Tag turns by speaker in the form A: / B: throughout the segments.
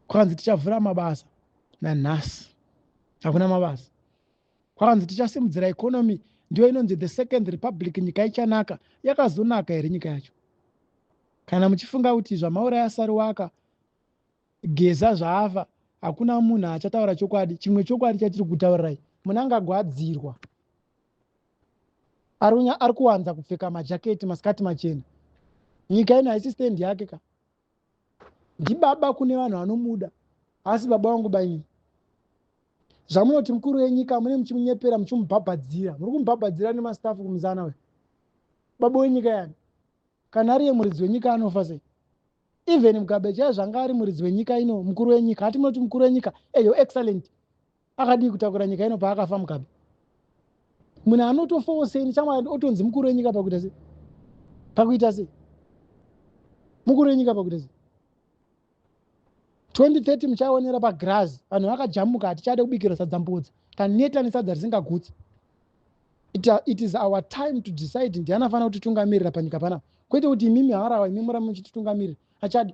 A: kwakanzi tichavhura mabasa nanhasi hakuna mabasa kwakanzi tichasimudzira economy ndiyo inonzi the second republic nyika ichanaka yakazonaka here nyika yacho kana muchifunga kuti zvamauraya sariwaka geza zvaafa hakuna munhu achataura chokwadi chimwe chokwadi chatiri kutaurirai munange agwadzirwa ari kuwanza kupfeka majaketi masikati machena nyika ino haisi stand yake ka ndibaba kune vanhu vanomuda asi baba vangu bainyi zvamunoti mukuru wenyika mune muchimunyepera muchimubhabhadzira muri kumubhabhadzira nemastafu kumuzana we baba wenyika yani kana ariye muridzi wenyika anofa sei even mugabe chaiye zvanga ari muridzi wenyika ino mukuru wenyika hati munoti mukuru wenyika eyo eh, excellent akadii kutakura nyika ino paakafa mukabe munhu anotofawo sei nechamwari otonzi mukuru wenyika pakuita sei pakuita sei mukuru wenyika pakuita sei 2030 muchaonera pagrazi vanhu vakajamuka hatichade kubikira sadza mbudzi taneta nesadza risingagutsi it is our time to decide ndiani afanira kutitungamirira panyika panapa kwete kuti imimi harawa imimi murame muchititungamirira achadi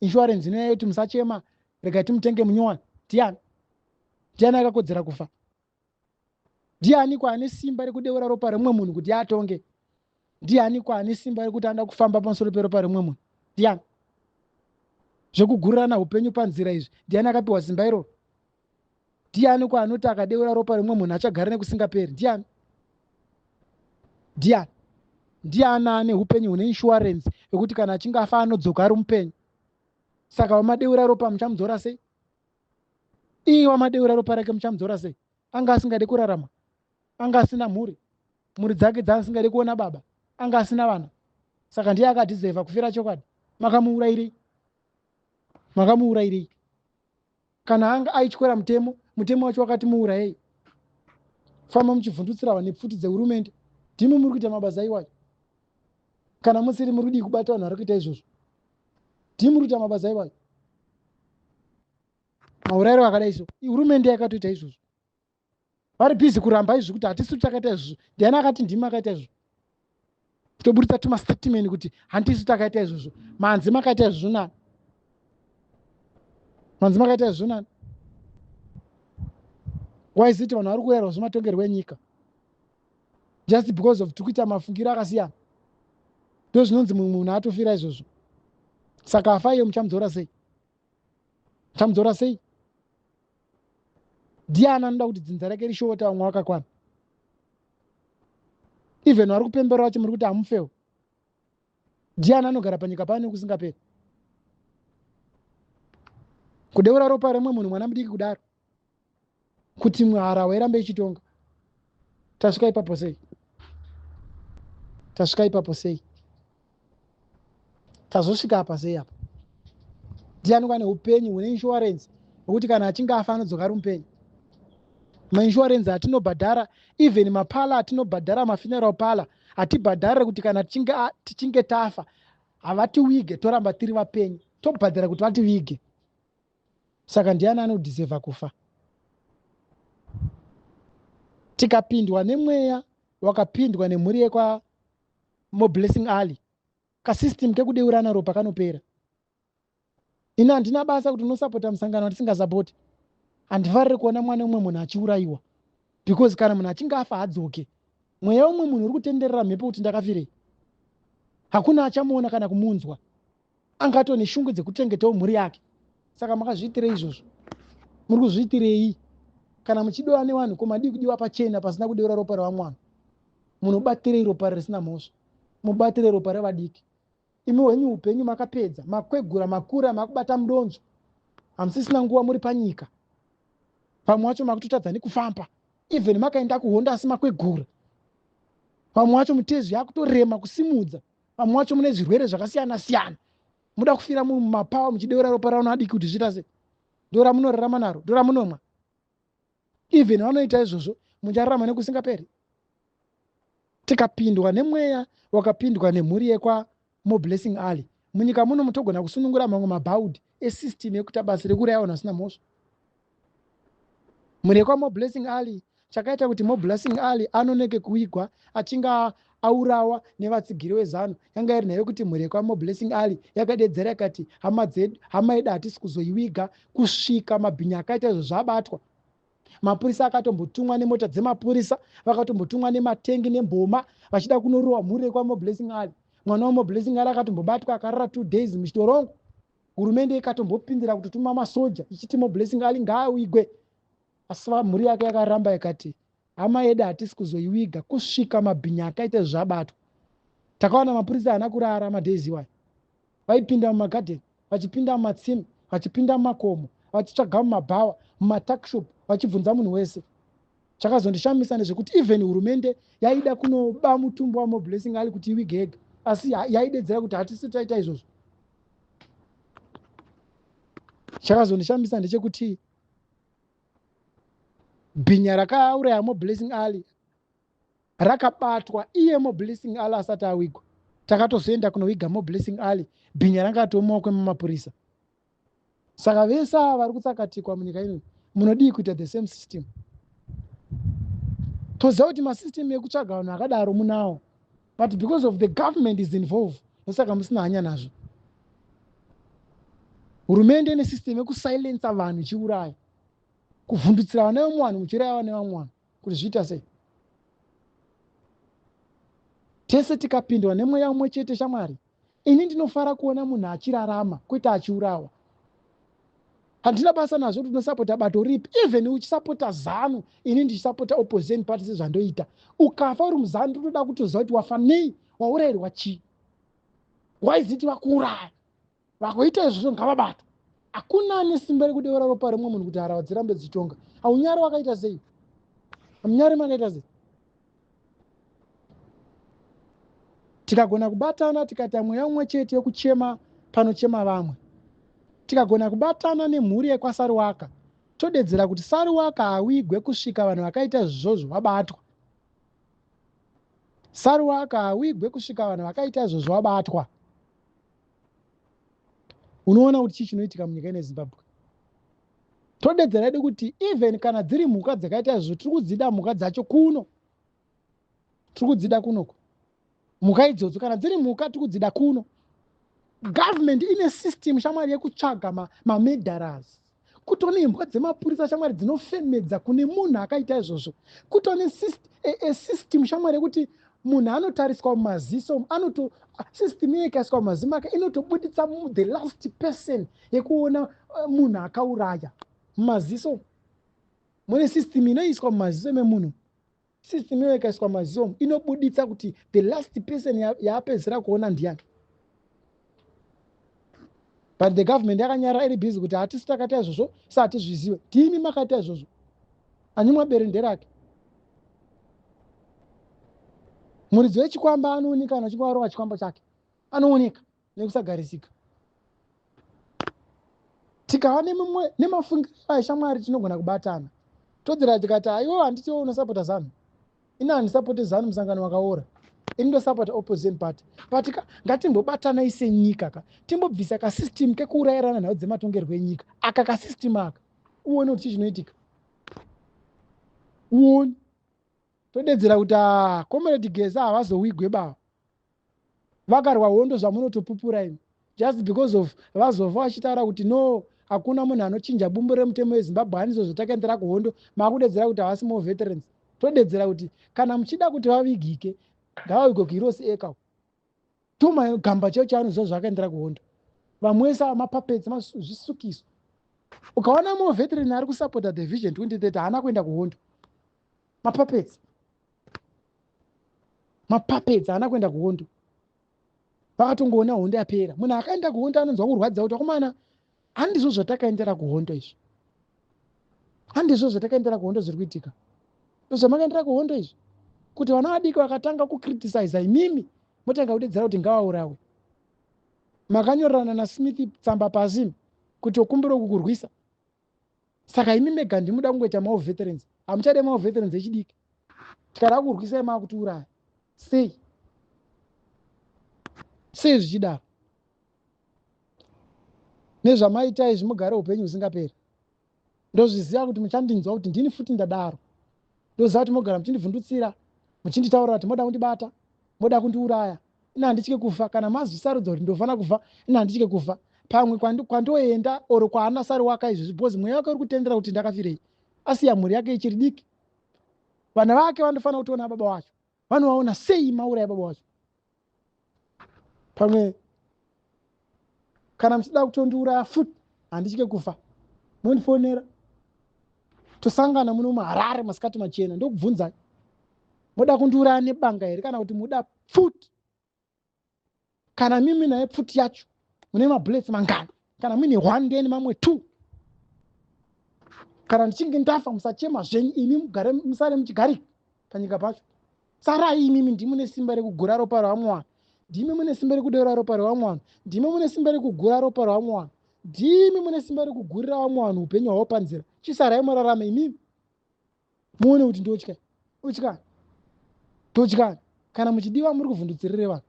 A: insurance inoya yoti musachema regai timutenge munyowani ndiani ndiani akakodzera kufa ndiani kwaane simba rekudeura ropa remumwe munhu kuti atonge ndiani kwaane simba rekuti anoda kufamba pamusoro peropa remumwe munhu ndiani zvekugurirana upenyu panzira izvi ndiani akapiwa simba iroro ndiani ko anoti akadeura ropa remumwe munhu achagara nekusingaperi ndiani ndiani ndiani ane upenyu hune inshuwarensi yekuti kana achinge afa anodzoka ari mupenyu saka wamadeura ropa muchamudzora sei iye wamadeura ropa rake muchamudzora sei anga asingade kurarama anga asina mhuri mhuri dzake dzaasingade kuona baba anga asina vana saka ndiye akadhizevha kufira chokwadi makamuurairei makamuurairei kana anga aityora mutemo mutemo wacho wakati muurayei famba muchivhundutsira vanhu nepfuti dzehurumende ndimi muri kuita mabasa iwayo kana musiri muri kudii kubata vanhu vari kuita izvozvo ndimi muri kuita mabasa iwayo maurayiro akadai so ihurumende yakatoita izvozvo vari busy kuramba izvi kuti hatisi takaita izvozvo ndiani akati ndimi akaita izvozvo toburitsa tumastatement kuti handisi takaita izvozvo manzi makaita izvozvo nani manzi makaita izvozvo nani waiziti vanhu vari kuyerwa zvematongerwo enyika just because of tiri kuita mafungiro akasiyana ndo zvinonzi mumwe munhu atofira izvozvo saka afa iyo muchamudzora sei muchamudzora sei ndiani anoda kuti dzinza rake rishoota vamwe vakakwana even vari kupembera vacho muri kuti hamufewo ndiani anogara panyika pano nekusingaperi kudeura ropa remwe munhu mwana mudiki kudaro kuti mwe harahwa irambe ichitonga tasvika ipapo sei tasvika ipapo sei tazosvika apa sei apa ndiani kwane upenyu hune inshuwarensi hwekuti kana achinge afa anodzoka ari mupenyu mainshuwarensi atinobhadhara even mapala atinobhadhara mafuneral pala hatibhadharire kuti kana tichinge tafa havatiwige toramba tiri vapenyu tobhadhara kuti vativige saka ndiani anodhisevha kufa tikapindwa nemweya wakapindwa nemhuri yekwa more blessing ali kasystem kekudeurana ropa kanopera ini handina basa kuti unosapota musangano watisingasapoti handifarire kuona mwana umwe munhu achiurayiwa because kana munhu achinge afa hadzoke mweya umwe munhu uri kutenderera mhepo kuti ndakafirei hakuna achamuona kana kumunzwa anga atone shungu dzekuchengetawo mhuri yake saka makazviitirei izvozvo muri kuzviitirei kana muchidiwa nevanhu ko madii kudiwa pachena pasina kudeura ropa revamwana munobatirei ropa risina mhosva mubatire ropa revadiki imi wenyu upenyu makapedza makwegura makura makubata mudonzo hamusisina nguva muri panyika vamwe vacho makutotadza nekufamba even makaenda kuhondo asi makwegura vamwe vacho mutezvi yakutorema kusimudza vamwe wacho mune zvirwere zvakasiyana siyana muda kufira munhu mumapawa muchideura ropa rano adiki kuti zviita sei ndora munorarama naro ndora munomwa even vanoita izvozvo muchararama nekusingaperi tikapindwa nemweya wakapindwa nemhuri yekwa moblessing alley munyika muno mutogona kusunungura mamwe mabhaudhi esystem yekuita basa rekuuraya vanhu vasina mhosva murekwa moblessing ali chakaita kuti moblessing ali anoneke kuigwa achinge aurawa nevatsigiri wezanu yanga iri nhayo kuti murekwa moblessing ali yakadedzera ikati hama dzedu hama yedu hatisi kuzoiwiga kusvika mabhinya akaita izvo zvabatwa mapurisa akatombotumwa nemota dzemapurisa vakatombotumwa nematengi nemboma vachida kunorowa mhurekwa moblessing ali mwana wamoblessing ali akatombobatwa akarara two days muchitorongo hurumende ikatombopindira kutotuma masoja ichiti moblessing ali ngaawigwe asi mhuri yake yakaramba ikati hama yedu hatisi kuzoiwiga kusvika mabhinya akaita zvabatwa takawana mapurisa haana kurara madaizi iwayo vaipinda mumagadheni vachipinda mumatsime vachipinda mumakomo vachitsvaga mumabhawa mumatakshop vachibvunza munhu wese chakazondishamisa ndezvekuti even hurumende yaida kunoba mutumbo wamoblessing ali kuti iwigega asi yaidedzera kuti hatisi taita izvozvo chakazondishamisa ndechekuti bhinya rakauraya moblessing alley rakabatwa iye moblessing alley asati awigwa takatozoenda kunoviga moblessing alley bhinya ranga atomumaoko emamapurisa saka vese ava vari kutsakatikwa munyika ino munodii kuita the same system toziva kuti masystem ekutsvaga vanhu akadaro munawo but because of the government is involved ndosaka musina hanya nazvo hurumende ine system yekusilensa vanhu ichiuraya kuvhundutsira vana vemwe vanhu muchiuraya vana vamwe vanhu kuti zviita sei tese tikapindwa nemweya umwe chete shamwari Ini ndinofara kuona munhu achirarama kwete achiurawa. Handina basa nazvo kuti unosapota bato ripi even uchisapota zanu ini ndichisapota opposition party sezvandoita. Ukafa uri muzanu ndotoda kutoziva kuti wafa nei waurayirwa chii. Why is it vakuuraya vakuita izvozvo ngavabatwa. Hakuna ane simba rekudeura ropa remwe munhu kuti harawa dzirambe dzichitonga. Haunyari wakaita sei? Hamunyari makaita sei? tikagona kubatana tikaita mweya umwe chete yokuchema panochema vamwe tikagona kubatana nemhuri yekwasariwaka todedzera kuti sariwaka hawigwe kusvika vanhu vakaita izvozvo vabatwa sariwaka hawigwe kusvika vanhu vakaita izvozvo vabatwa unoona kuti chii chinoitika munyika ine zimbabwe todedzera yedu kuti even kana dziri mhuka dzakaita izvo tiri kudzida mhuka dzacho kuno tiri kudzida kunoko mhuka idzodzo kana dziri mhuka tiri kudzida kuno government ine system shamwari yekutsvaga mamedharas ma kutone imbwa dzemapurisa shamwari dzinofemedza kune munhu akaita izvozvo kutone system shamwari yekuti munhu anotariswa mumaziso anoto system iye ikaiswa mumaziso make inotobuditsa the last person yekuona eh, munhu akauraya mumaziso mune system inoiswa mumaziso memunhu system iyoyo ikaiswa mazoom inobuditsa kuti the last person yaapedzisira kuona ndiyani but the government yakanyarara iri busy kuti hatisi takaita izvozvo sa hatizvizive tiimi makaita izvozvo anyimwa bere nderake muridzi wechikwamba anooneka kana uchinge warova chikwambo chake anooneka nekusagarisika tikava nemimwe nemafungiro aishamwari tinogona kubatana todzera tikati aiwo handiti wo unosapota zanu ini handisapote zanu musangano wakaora ini ndosapota opposition party but ka ngatimbobatanai senyika ka timbobvisa kasystem kekuurayirana nhau dzematongerwo enyika aka kasystem aka uone kuti chii chinoitika uone todedzera kuti a ah, comrade gesa havazowigwe bava vakarwa hondo zvamunotopupura imi just because of vazofa vachitaura kuti no hakuna munhu anochinja bumbu remutemo wezimbabwe hanizvo zvatakaendera kuhondo makudedzera kuti havasi more veterans todedzera kuti kana muchida kuti vavigike ngavavigwe kuirosi eka tuma gamba cheo chaanoziva zvakaendera kuhondo vamwe wese mapapetsi mazvisukiso ukaona more veteran ari kusupporta the vision 2030 haana kuenda kuhondo mapapedzi mapapedzi haana kuenda kuhondo vakatongoona hondo yapera munhu akaenda kuhondo anonzwa kurwadza kuti akomana handizvo zvatakaendera kuhondo izvi handizvo zvatakaendera kuhondo zviri kuitika ndozvamakaendera kuhondo izvi kuti vana vadiki vakatanga kucriticiza imimi motanga kudedzera kuti ngavaurawe makanyorerana nasmith tsamba pasi kuti okumbira kukurwisa saka imi mega ndimuda kungoita mawo veterans hamuchade mawo veterans echidiki tikada kurwisai maakutiuraya sei sei zvichidaro nezvamaitai zvimugare upenyu husingaperi ndozviziva kuti muchandinzwa kuti ndini futi ndadaro ndoziva kuti mogara muchindivhundutsira muchinditaurira kuti moda kundibata moda kundiuraya ini handitye kufa kana mazvisarudza kuti ndofana kufa ini handitye kufa pamwe kwandoenda or kwaana sari waka izvezvi because mweya wake uri kutendera kuti ndakafirei asiya mhuri yake ichiri diki vana vake vanofanira kutiona baba wacho vanovaona sei mauraya baba wacho pamwe kana muchida kutondiuraya futi handitye kufa mondifonera tosangana muno muharare masikati machena ndokubvunzai moda kundiuraya nebanga here kana kuti muda pfuti kana mimi naye pfuti yacho mune mabullets mangani kana muine one then mamwe two kana ndichinge ndafa musachema zvenyu imi mugare musare muchigarika panyika pacho sarai imimi ndimi mune simba rekugura ropa revamwe vanhu ndimi mune simba rekudeura ropa revamwe vanhu ndimi mune simba rekugura ropa revamwe vanhu ndimi mune simba rekugurira vamwe vanhu upenyu hwavo panzira chisarai murarame imimi muone kuti ndotya utya totya kana muchidiwa muri kuvhundutsirire vanhu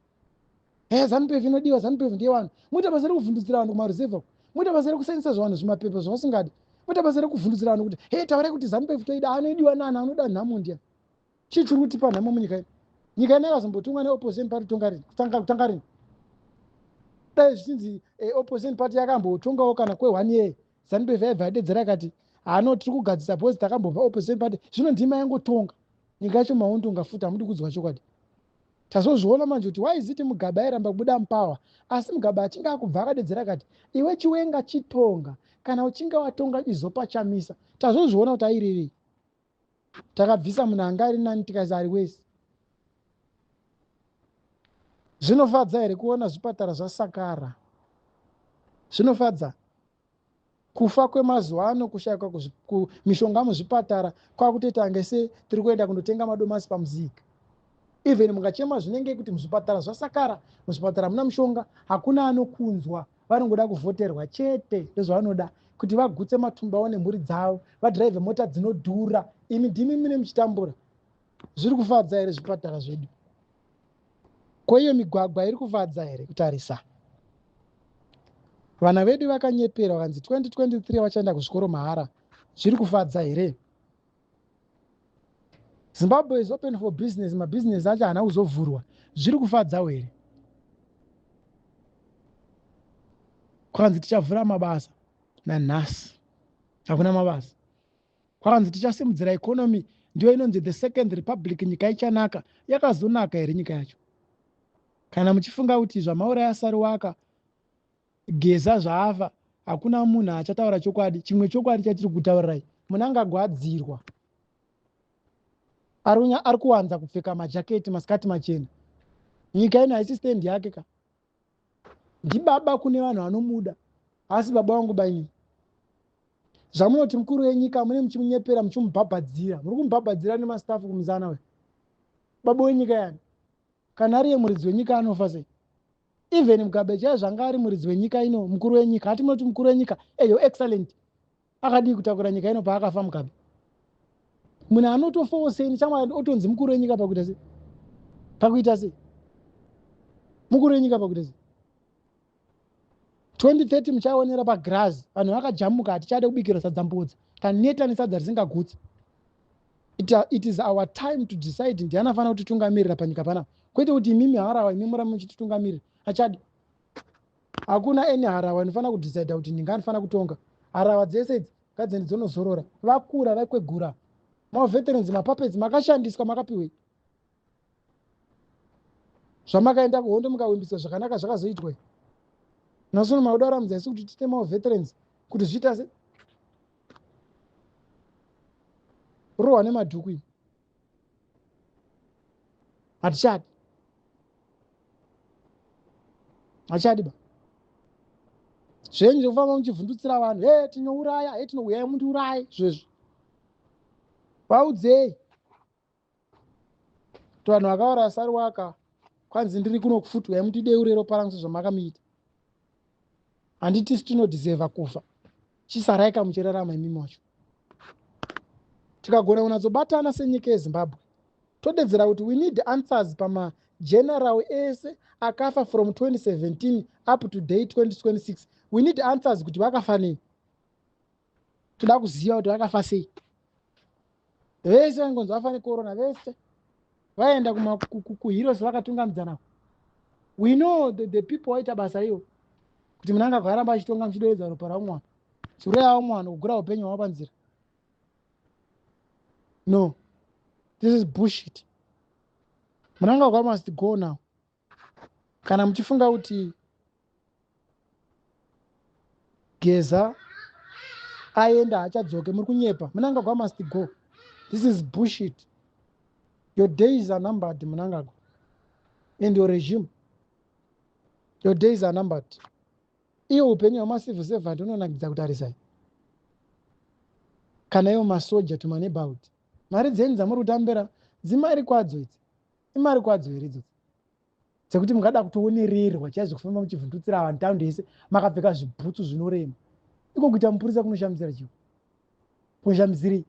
A: ehe zanupf inodiwa zanupf ndeyevanhu moita basa rekuvhundutsira vanhu kumaruzevha moita basa rekusayinisa zvavanhu zvimapepa zvavasingadi moita basa rekuvhundutsira vanhu kuti he taurai kuti zanupf toida anoidiwa nani anoda nhamo ndiya chii chiri kutipa nhamo munyika ino nyika ino yakazombotumwa neopposition party kutanga rini dai zvichinzi eh, opposition party yakambotongawo kana kwe one year zanupf yaibva yadedzera akati hano tiri kugadzisa bhozi takambova opposition party zvino ndima yangotonga nyika yacho maundunga futi hamudi kudzwa chokwadi tazozviona manje kuti why ziti mugabe airamba kubuda mupower asi mugabe achinge akubva akadedzera akati iwe chiwenga chitonga kana uchinge watonga izopa chamisa tazozviona kuti airevei takabvisa munhu anga ari nani tikaisa ari wese zvinofadza here kuona zvipatara zvasakara zvinofadza kufa kwemazuva ano kushayikwa mishonga muzvipatara kwakutoita nge se tiri kuenda kundotenga madomasi pamuzika even mukachema zvinenge kuti muzvipatara zvasakara muzvipatara hamuna mushonga hakuna anokunzwa vanongoda kuvhoterwa chete ndozvavanoda kuti vagutse matumba avo nemhuri dzavo vadhiraivhe mota dzinodhura imi ndimi mune muchitambura zviri kufadza here zvipatara zvedu ko iyo migwagwa iri kufadza here kutarisa vana vedu vakanyeperwa vanzi 2023 vachaenda kuzvikoro mahara zviri kufadza here zimbabwe is open for business mabusiness acho haana kuzovhurwa zviri kufadzawo here kwakanzi tichavhura mabasa nanhasi hakuna mabasa kwakanzi tichasimudzira economy ndiyo inonzi the second republic nyika ichanaka yakazonaka here nyika yacho kana muchifunga kuti zvamauraya sariwaka Geza zvaafa hakuna munhu achataura chokwadi chimwe chokwadi chatiri kutaurirai. Munangagwa adzirwa arunya ari kuwanza kupfeka majaketi masikati machena nyika ino haisi stand yake ka ndibaba kune vanhu vanomuda asi baba wangu bainini zvamunoti mukuru wenyika mune muchimunyepera muchimubhabhadzira muri kumubhabhadzira nemastafu kumuzana we baba wenyika yani kana ariye muridzi wenyika anofa sei even mugabe chaiye zvanga ari muridzi wenyika ino mukuru wenyika hati munoti mukuru wenyika eyo eh, excellent akadii kutakura nyika ino paakafa mugabe munhu anotofawo sei nechamwa otonzi mukuru wenyika pakuita sei pakuita sei mukuru wenyika pakuita sei 2030 muchaonera pagrazi vanhu vakajamuka hatichade kubikirwa sadza mbudzi taneta nesadza risingagutsi it is our time to decide ndiani afanira kutitungamirira panyika panapa kwete kuti imimi harawa imi murame muchititungamirira achadi hakuna any harawa inofanira kudecide kuti ndinga anofanira kutonga harawa dzese idzi ngadzende dzonozorora vakura vaikwegura maveterans mapapets makashandiswa makapiwei zvamakaenda kuhondo mukawimbisa zvakanaka zvakazoitwai nasono makuda kuramidza isu kuti tite maveterans kuti zviita se rohwa nemadhuku iyi hatichadi hatichadi ba zvenyu zvekufamba muchivhundutsira vanhu he tinouraya he tinouyai mundiuraye zvezvo vaudzei kuti vanhu vakauraya sariwaka kwanzi ndiri kuno kufutwa yamutidei urero parangu sezvamakamuita handiti sitinodhisevha kufa chisaraika muchirarama imi macho tikagona kunatsobatana senyika yezimbabwe todedzera kuti we need answers pamageneral ese akafa from 2017 up to day 2026 we need answers kuti vakafa nei toda kuziva kuti vakafa sei vese vaingonzi vafa necorona vese vaenda kuheroes vakatungamidzana we know the, the people waita basa iyo kuti munanga kwaramba achitonga muchidovedza ropa raumwe wano sure yavo umwe wano kugura upenyu hwavo panzira no this is bullshit munanga kwa must go now kana muchifunga kuti geza aenda haachadzoke muri kunyepa munangagwa must go this is bushit your days are numbered munangagwa and your regime your days are numbered iye upenyu hwemacivil servant unonakidza kutarisai kana iwo masoja to maneighborhood mari dzenyu dzamuri kutambira dzimari kwadzo idzi imari kwadzo here idzodzi dzekuti mungada kutoonererwa chaizvo kufamba muchivhundutsira vanhu taundi yese makapfeka zvibhutsu zvinorema iko kuita mupurisa kunoshamisira chio kunoshamisirei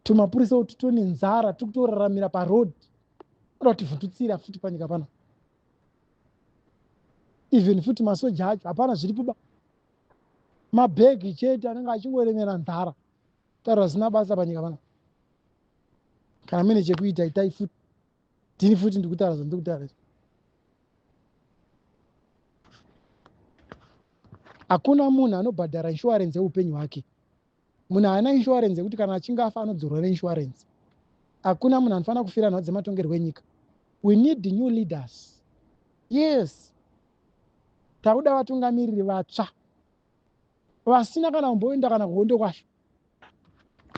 A: tumapurisa uti tone nzara tiri kutoraramira paroad oda kuti vhundutsira futi panyika pano even futi masoja acho hapana zviripoba mabhegi chete anenge achingoremera nzara taura zvisina basa panyika pana kana mine chekuita itai futi ndini futi ndikutaura zvandiri kutaura izvi hakuna munhu anobhadhara inshuwarensi yeupenyu hwake munhu haana inshuwarensi yekuti kana achinge afa anodzorwa neinshuwarensi hakuna munhu anofanira kufira nhau dzematongerwo enyika we need new leaders yes takuda vatungamiriri vatsva vasina kana kumboenda kana kuhondo kwacho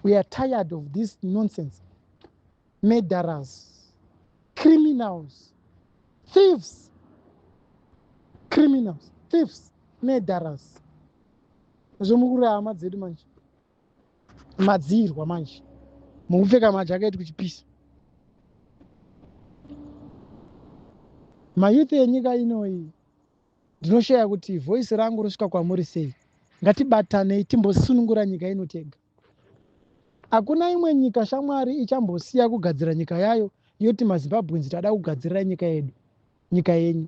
A: we are tired of this nonsense murderers criminals thieves criminals thieves murderers zvomukurira hama dzedu manje madziirwa manje mukupfeka majaketi kuchipisa mayouth enyika inoyi Ndinoshaya kuti voice rangu rosvika kwamuri sei. Ngatibatanei timbosunungura nyika ino tega. Hakuna imwe nyika shamwari ichambosiya kugadzira nyika yayo yoti maZimbabweans tada kugadzirira nyika yedu, nyika yenyu.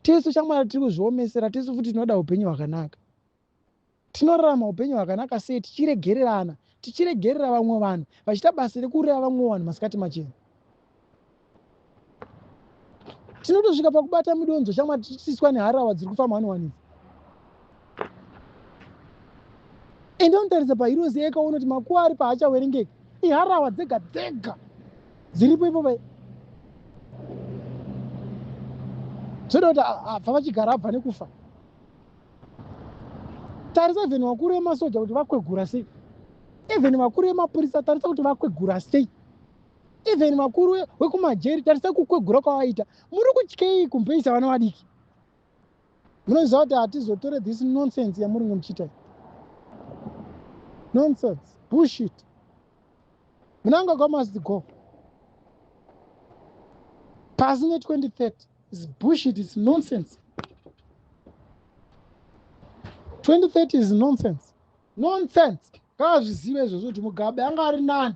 A: Tisu shamwari tiri kuzviomesera, tisu futi tinoda upenyu hwakanaka. Tinorarama upenyu hwakanaka sei tichiregererana, tichiregerera vamwe vanhu vachiita basa rekuuraya vamwe vanhu masikati machena? Tinotosvika pakubata midonzo shamwari tichitisiswa neharawa dziri kufamba one one idzi. ende unotaridza pahirozi eka unoti makuva ari paachawerengeka iharawa dzega dzega dziripo ipopa zvoda kuti abva vachigara abva nekufa tarisa even vakuru vemasoja kuti vakwegura sei even vakuru vemapurisa tarisa kuti vakwegura sei even vakuru vekumajeri tarisa kukwegura kwavaita muri kutyei kumbeisa vana vadiki munoziva kuti hatizotore this nonsense yamuringe muchiita nonsense bushit mnangagwa must go pasi ne2030 is bushit is nonsense 2030 is nonsense nonsense ngaazvizive izvozvo kuti mugabe anga ari nani